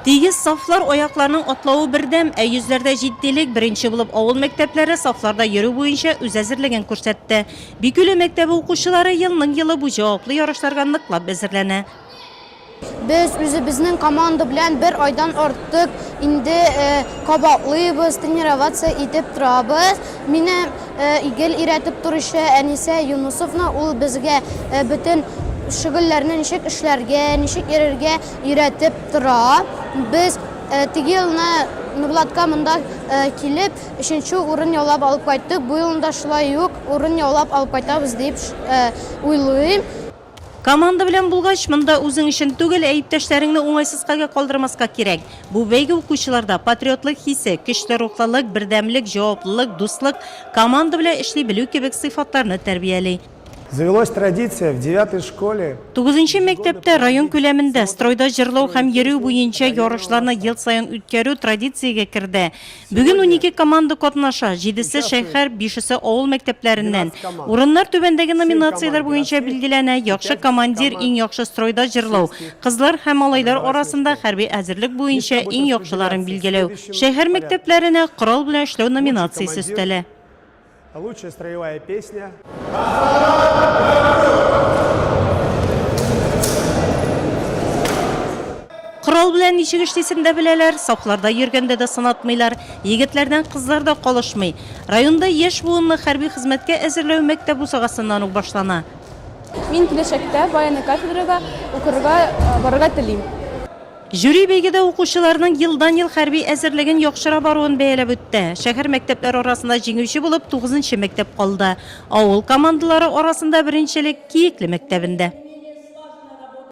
Тигез сафлар, аякларның атлавы бердәм, ә йөзләрдә җитдилек, беренче булып авыл мәктәпләре сафларда йөрү буенча үз әзерлеген күрсәтте. Бикүле мәктәбе укучылары елның-елы бу җаваплы ярышларга ныклап әзерләнә. Без үзебезнең команда белән бер айдан артык инде кабатлыйбыз, тренироваться итеп торабыз. Мине гел өйрәтеп торучы Әнисә Юнысовна, ул безгә бөтен шөгыльләрне ничек эшләргә, ничек йөрергә өйрәтеп тора. Без теге елны Нурлатка монда килеп, өченче урын яулап алып кайттык, бу елны да шулай ук урын яулап алып кайтабыз дип уйлыйм. Команда белән булгач, монда үзең өчен түгел, ә иптәшләреңне уңайсыз хәлгә калдырмаска кирәк. Бу бәйге укучыларда патриотлык хисе, көчле рухлылык, бердәмлек, җаваплылык, дуслык, команда белән эшли белү кебек сыйфатларны тәрбияли. Завелось традиция, в девятой школе. Тугызынчы мәктәптә район күләмендә стройда җырлау һәм йөрү буенча ярышларны ел саен үткәрү традициягә керде. Бүген унике команда катнаша, җидесе шәһәр, бишесе авыл мәктәпләреннән. Урыннар түбәндәге номинацияләр буенча билгеләнә, яхшы командир, иң яхшы стройда җырлау, кызлар һәм малайлар арасында хәрби әзерлек буенча иң яхшыларын билгеләү, шәһәр мәктәпләренә корал белән эшләү номинациясе өстәлә. Лучшая строевая песня. Корал белән ничек эшлисен дә беләләр, сафларда йөргәндә дә сынатмыйлар. Егетләрдән кызлар да калышмый. Районда яшь буынны хәрби хезмәткә әзерләү мәктәп бусагасыннан ук башлана. Мин киләчәктә военный кафедрага укырга барырга телим. Жюри бәйгедә укучыларның елдан-ел хәрби әзерлеген яхшыра баруын бәяләп үтте. Шәһәр мәктәпләре арасында җиңүче булып тугызынчы мәктәп калды. Авыл командалары арасында беренчелек Киекле мәктәбендә.